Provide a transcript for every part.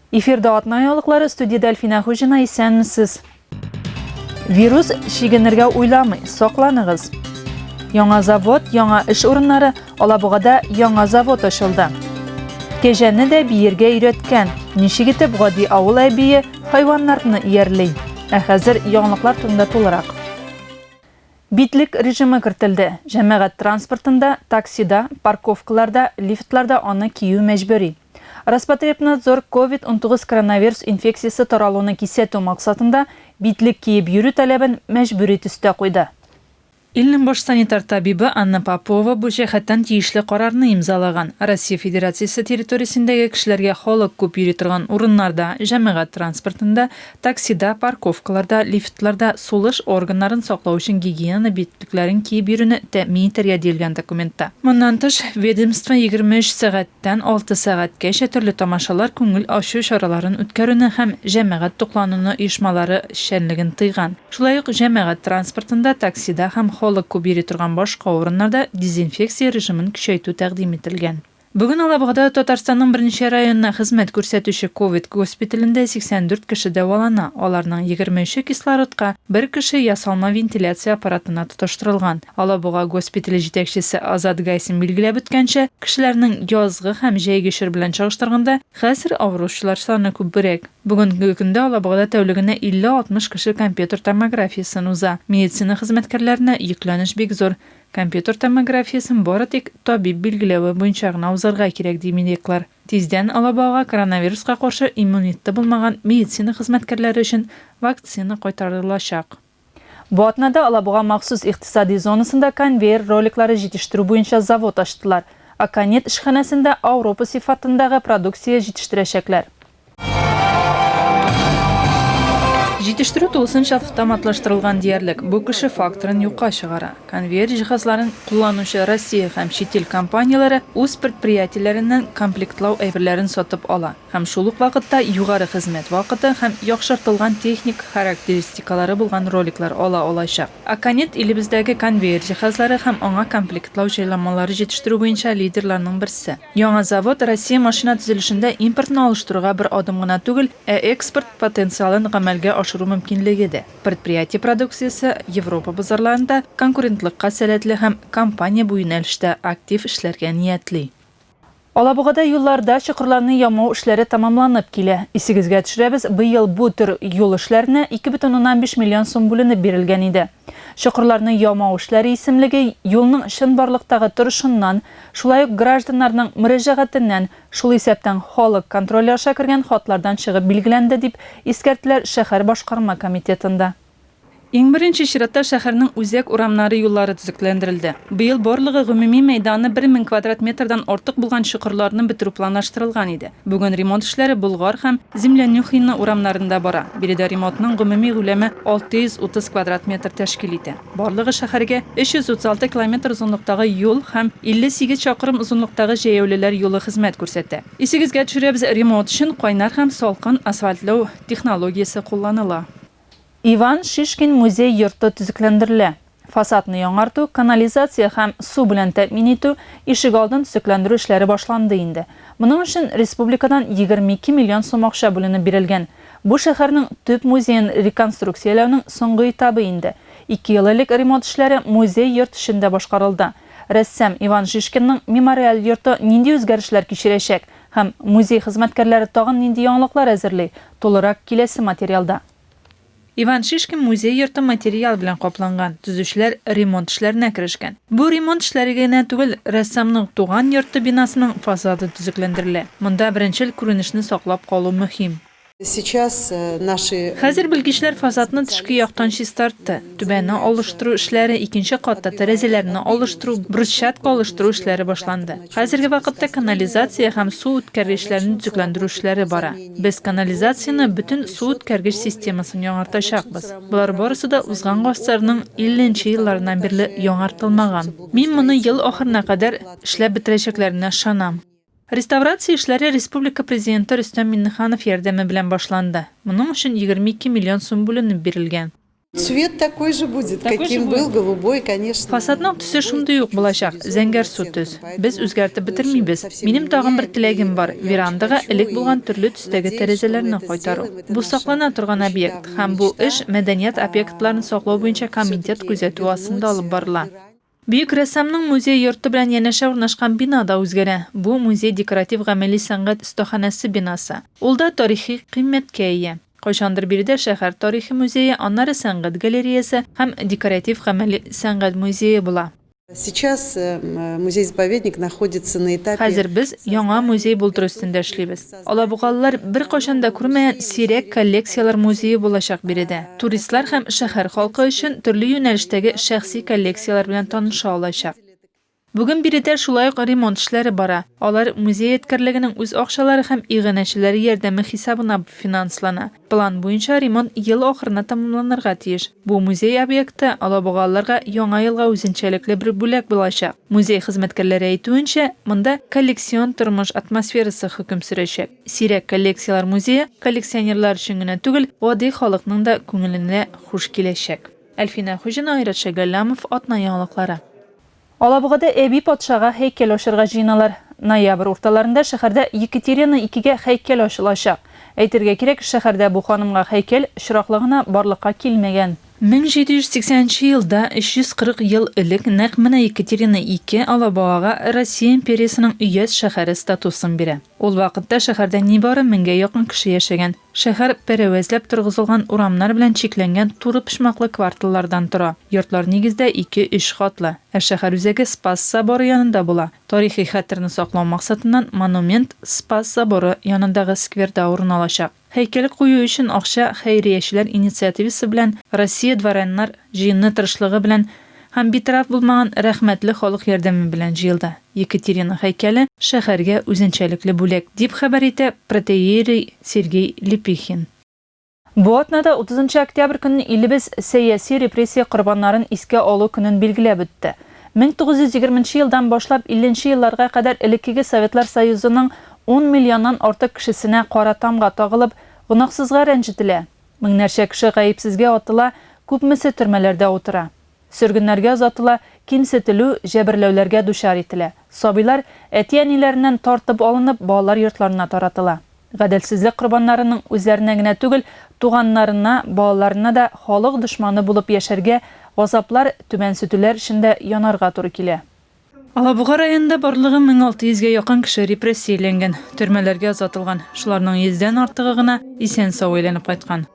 Эфирда атна яулыклары студияда Әлфинә Хуҗина исәнмесез. Вирус шигенергә уйламый, сакланыгыз. Яңа завод, яңа эш урыннары, Алабугада яңа завод ачылды. Кәҗәне дә биергә өйрәткән. Ничек итеп гади авыл әбие хайваннарны иярли? Ә хәзер яңалыклар турында тулырак. Битлек режимы кертелде, җәмәгать транспортында, таксида, парковкаларда, лифтларда аны кию мәҗбүри. Роспотребнадзор ковид-унтугыз коронавирус инфекциясе таралуны кисәтү максатында битлек киеп йөрү таләбен мәҗбүри төстә куйды. Илнең баш санитар табибы Анна Попова бу җәһәттән тиешле карарны имзалаган. Россия Федерациясе территориясендәге кешеләргә халык күп йөри торган урыннарда, җәмәгать транспортында, Таксида, парковкаларда, лифтларда сулыш органнарын саклау өчен гигиена битлекләрен киеп йөрүне тәэмин итәргә диелгән документта. Моннан тыш, ведомство егерме өч сәгатьтән алты сәгатькәчә төрле тамашалар, күңел ачу чараларын үткәрүне һәм җәмәгать туклануны оешмалары эшчәнлеген тыйган. Шулай ук җәмәгать транспортында, таксида һәм халык күп йөри торган башка урыннарда дезинфекция режимын көчәйтү тәкъдим ителгән. Бүген Алабугада Татарстанның берничә районына хезмәт күрсәтүче ковид госпиталендә 84 кеше дәвалана, аларның егерме өче кислородка, бер кеше ясалма вентиляция аппаратына тоташтырылган. Алабуга госпитале җитәкчесе Азат Гайсин билгеләп үткәнчә, кешеләрнең язгы һәм җәйге чор белән чагыштырганда, хәзер авыручылар саны күбрәк. Бүгенге көндә Алабугада тәүлегенә 50-60 кеше компьютер томографиясен уза. Медицина хезмәткәрләренә йөкләнеш бик зур. Компьютер томографиясен бары тик табиб билгеләве буенча гына узарга кирәк, ди медиклар. Тиздән алабугага коронавируска каршы иммунитеты булмаган медицина хезмәткәрләре өчен вакцина кайтарылачак. Бу атнада алабуга махсус икътисади зонасында конвейер роликлары җитештерү буенча завод ачтылар. Аконит эшханәсендә Ауропа сыйфатындагы продукция җитештерәчәкләр. Җитештерү тулысынча автоматлаштырылган диярлек. Бу кеше факторын юкка чыгара. Конвейер җиһазларын кулланучы Россия һәм чит ил компанияләре үз предприятиеләреннән комплектлау әйберләрен сатып ала һәм шул ук вакытта югары хезмәт вакыты һәм яхшыртылган техник характеристикалары булган роликлар ала алачак. Аконет илебездәге конвейер җиһазлары һәм аңа комплектлау җайламалары җитештерү буенча лидерларның берсе. Яңа завод Россия машина төзелешендә импортны алыштыруга бер адым гына түгел, ә экспорт потенциалын гамәлгә ашыру мөмкинлеге дә. Предприятие продукциясе Европа базарларында конкурентлыкка сәләтле һәм компания бу юнәлештә актив эшләргә ниятли. Алабугада юлларда чокырларны ямау эшләре тәмамланып килә. Исегезгә төшерәбез, быел бу төр юл эшләренә 2,5 миллион сум бүленеп бирелгән иде. Чокырларны ямау эшләре исемлеге юлның чынбарлыктагы торышыннан, шулай ук гражданнарның мөрәҗәгатеннән, шул исәптән халык контроле аша кергән хатлардан чыгып билгеләнде, дип искәрттеләр шәһәр башкарма комитетында. Иң беренче чиратта шәһәрнең үзәк урамнары юллары төзекләндерелде. Быел барлыгы гомуми мәйданы бер мең квадрат метрдан артык булган чокырларны бетерү планлаштырылган иде. Бүген ремонт эшләре Болгар һәм Землянюхино урамнарында бара. Биредә ремонтның гомуми күләме 630 квадрат метр тәшкил итә. Барлыгы шәһәргә 336 километр озынлыктагы юл һәм 58 чакрым озынлыктагы җәяүлеләр юлы хезмәт күрсәтә. Исегезгә төшерәбез, ремонт өчен кайнар һәм салкын асфальтлау технологиясе кулланыла. Иван Шишкин музей йорты төзекләндерелә. Фасадны яңарту, канализация һәм су белән тәэмин итү, ишегалдын төзекләндерү эшләре башланды инде. Моның өчен республикадан 22 миллион сум акча бүленеп бирелгән. Бу шәһәрнең төп музеен реконструкцияләүнең соңгы этабы инде. Ике ел элек ремонт эшләре музей йорт эчендә башкарылды. Рәссам Иван Шишкинның мемориаль йорты нинди үзгәрешләр кичерәчәк, Һәм музей хезмәткәрләре тагын нинди яңалыклар әзерли? Тулырак киләсе материалда. Иван Шишкин музей йорты материал белән капланган, төзүчеләр ремонт эшләренә керешкән. Бу ремонт эшләре генә түгел, рәссамның туган йорты бинасының фасады төзекләндерелә. Монда беренчел күренешне саклап калу мөһим. Хәзер белгечләр фасадны тышкы яктан чистартты. Түбәне алыштыру эшләре, икенче катта тәрәзәләрне алыштыру, брусчатка алыштыру эшләре башланды. Хәзерге вакытта канализация һәм су үткәргечләрне төзекләндерү эшләре бара. Без канализацияне, бөтен су үткәргеч системасын яңартачакбыз. Болар барысы да узган гасырның 50 нче елларыннан бирле яңартылмаган. Мин моны ел ахырына кадәр эшләп бетерәчәкләренә ышанам. Реставрация эшләре республика Президенты Рөстәм Миңнеханов ярдәме белән башланды. Моның өчен 22 миллион сум бүленеп бирелгән. Цвет такой же будет, каким был, голубой, конечно. Фасадның төсе шундый ук булачак, зәңгәрсу төс. Без үзгәртеп бетермибез. Минем тагын бер теләгем бар, верандага элек булган төрле төстәге тәрәзәләрне кайтару. Бу саклана торган объект, һәм бу эш Мәдәният объектларын саклау буенча комитет күзәтүе астында алып барыла. Бөек рәссамның музей йорты белән янәшә урнашкан бина да үзгәрә. Бу, музей декоратив-гамәли сәнгать остаханәсе бинасы. Ул да тарихи кыйммәткә ия. Кайчандыр биредә шәһәр тарихи музее, аннары сәнгать галереясе һәм декоратив-гамәли сәнгать музее була. Сейчас музей-заповедник находится на этапе. Хәзер без яңа музей-болдыр өстендә эшлибез. Алабугалылар беркайчан да күрмәгән сирәк коллекцияләр музее булачак биредә. Туристлар һәм шәһәр халкы өчен төрле юнәлештәге шәхси коллекцияләр белән таныша алачак. Бүген биредә шулай ук ремонт эшләре бара, алар музей эткәрлегенең үз акчалары һәм иганәчеләр ярдәме хисабына финанслана. План буенча ремонт ел ахырына тәмамланырга тиеш. Бу музей объекты алабугалыларга Яңа елга үзенчәлекле бер бүләк булачак. Музей хезмәткәрләре әйтүенчә, монда коллекцион тормыш атмосферасы хөкем сөрәчәк. Сирәк коллекцияләр музее коллекционерлар өчен генә түгел, гади халыкның да күңеленә хуш киләчәк. Әлфинә Хуҗина, Айрат Шәгалләмов, Атна яңалыклары. Алабугада Әби патшага һәйкәл ачарга җыеналар. Ноябрь урталарында шәһәрдә Екатерина икегә һәйкәл ачылачак. Әйтергә кирәк, шәһәрдә бу ханымга һәйкәл очраклы гына барлыкка килмәгән. 1780 нче елда, 340 ел элек, нәкъ менә Екатерина ике Алабугага Россия империясенең өяз шәһәре статусын бирә. Ул вакытта шәһәрдә нибары меңгә якын кеше яшәгән. Шәһәр пәрәвәзләп торгызылган урамнар белән чикләнгән туры почмаклы кварталлардан тора. Йортлар нигездә ике-өч катлы. Ә шәһәр үзәге Спас соборы янында була. Тарихи хәтерне саклау максатыннан монумент Спас соборы янындагы скверда урын алачак. Һәйкәл кую өчен акча хәйриячеләр инициативасы белән Россия дворяннар җыены тырышлыгы белән һәм битараф булмаган рәхмәтле халык ярдәме белән җыелды. Екатерина һәйкәле шәһәргә үзенчәлекле бүләк, дип хәбәр итә протоиерей Сергей Лепихин. Бу атнада, 30 нчы октябрь көнне илебез сәяси репрессия корбаннарын искә алу көнен билгеләп үтте. 1920 нче елдан башлап 50 нче елларга кадәр элеккеге Советлар Союзының ун миллионнан артык кешесенә кара тамга тагылып, гөнаһсызга рәнҗетелә, меңнәрчә кеше гаепсезгә атыла, күпмесе төрмәләрдә утыра. Сөргеннәргә озатыла, кимсетелү, җәберләүләргә дучар ителә. Сабыйлар, әти-әниләреннән тар-тып алынып, балалар йортларына таратыла. Гаделсезлек корбаннарының үзләренә генә түгел, туганнарына, балаларына да халык дошманы булып яшәргә, газаплар, түбәнсетүләр эчендә янарга туры килә. Алабуга районында барлыгы 1600 гә якын кеше репрессияләнгән, төрмәләргә озатылган, шуларның йөздән артыгы гына исән-сау әйләнеп кайткан.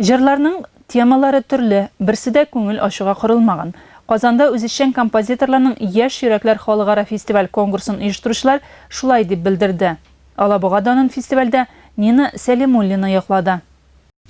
Җырларның темалары төрле, берсе дә күңел ачуга корылмаган. Казанда үзешчән композиторларның Яшь йөрәкләр халыкара фестиваль-конгурсын оештыручылар шулай дип белдерде. Алабуга данын фестивальдә Нина Сәлимуллина яклады.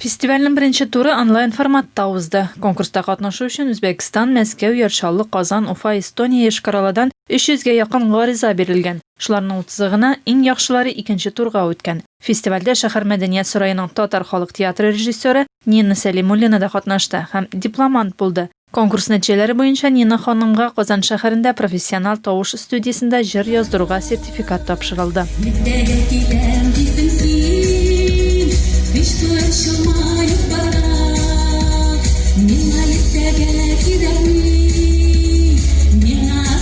Фестивальнең беренче туры онлайн-форматта узды. Конкурста катнашу өчен Үзбәкстан, Мәскәү, Яр Чаллы, Казан, Уфа, Эстония, Йошкар-Оладан 300 гә якын гариза бирелгән. Шуларның утызы гына, иң яхшылары икенче турга үткән. Фестивальдә шәһәр мәдәният сараеның татар халык театры режиссеры Нина Сәлимуллина да катнашты һәм дипломант булды. Конкурс нәтиҗәләре буенча Нина ханымга Казан шәһәрендә профессиональ тавыш студиясендә җыр яздыруга сертификат тапшырылды. Иртәгә киләм диптең син, Кыш туар чамаеп бара. Миңа иртәгә кирәкми, миңа.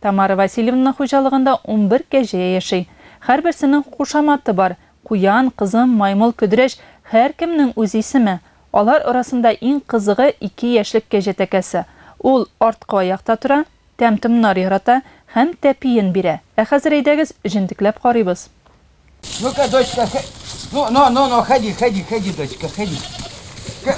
Тамара Васильевна хуҗалыгында унбер кәҗә яши. Һәрберсенең кушаматы бар, куян, кызым, маймыл, көдрәч, һәркемнең үз исеме. Алар арасында иң кызыгы, ике яшьлек кәҗә тәкәсе. Ул арткы аякта тора, тәм-томнар ярата һәм тәпиен бирә. Ә хәзер әйдәгез, җентекләп карыйбыз. Ну-ка, дочка, х... ну, ну, ну, ну, ходи, ходи, ходи, дочка, ходи. Э,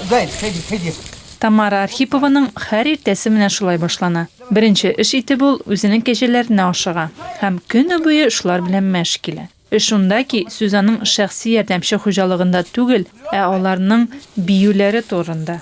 Заяц, ходи, ходи. Тамара Архипованың һәр иртәсе менә шулай башлана. Беренче эш итеп ул үзенең кәҗәләренә ашыга һәм көне буе шулар белән мәш килә. Эш шунда ки, сүз аның шәхси ярдәмче хуҗалыгында түгел, ә аларның биюләре турында.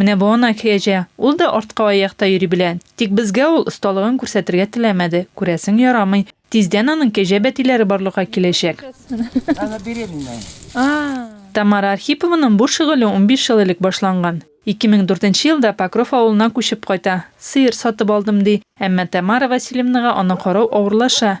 Менә бу ана кәҗә. Ул да арткы аякта йөри белә. Тик безгә ул осталыгын күрсәтергә теләмәде. Күрәсең, ярамый. Тиздән аның кәҗә бәтиләре барлыкка киләчәк. Тамара Архипованың бу шөгыле унбиш ел элек башланган. Ике мең дүртенче елда Покров авылына күчеп кайта. Сыер сатып алдым, ди. Әмма Тамара Васильевнага аны карау авырлаша.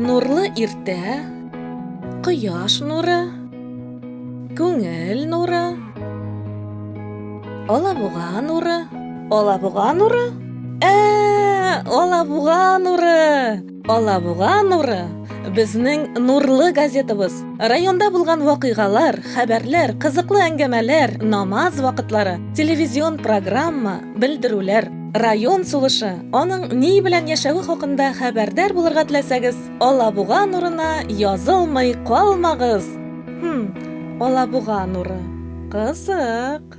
Нурлы иртә, кояш нуры, күңел нуры, алабуга нуры, алабуга нуры, ә, алабуга нуры! Алабуга нуры, безнең нурлы газетабыз. Районда булган вакыйгалар, хәбәрләр, кызыклы әңгәмәләр, намаз вакытлары, телевизион программа, белдерүләр, район сулышы, аның ни белән яшәве хакында хәбәрдар булырга теләсәгез, Алабуга нурына язылмый калмагыз! Хм, Алабуга нуры. Кызык.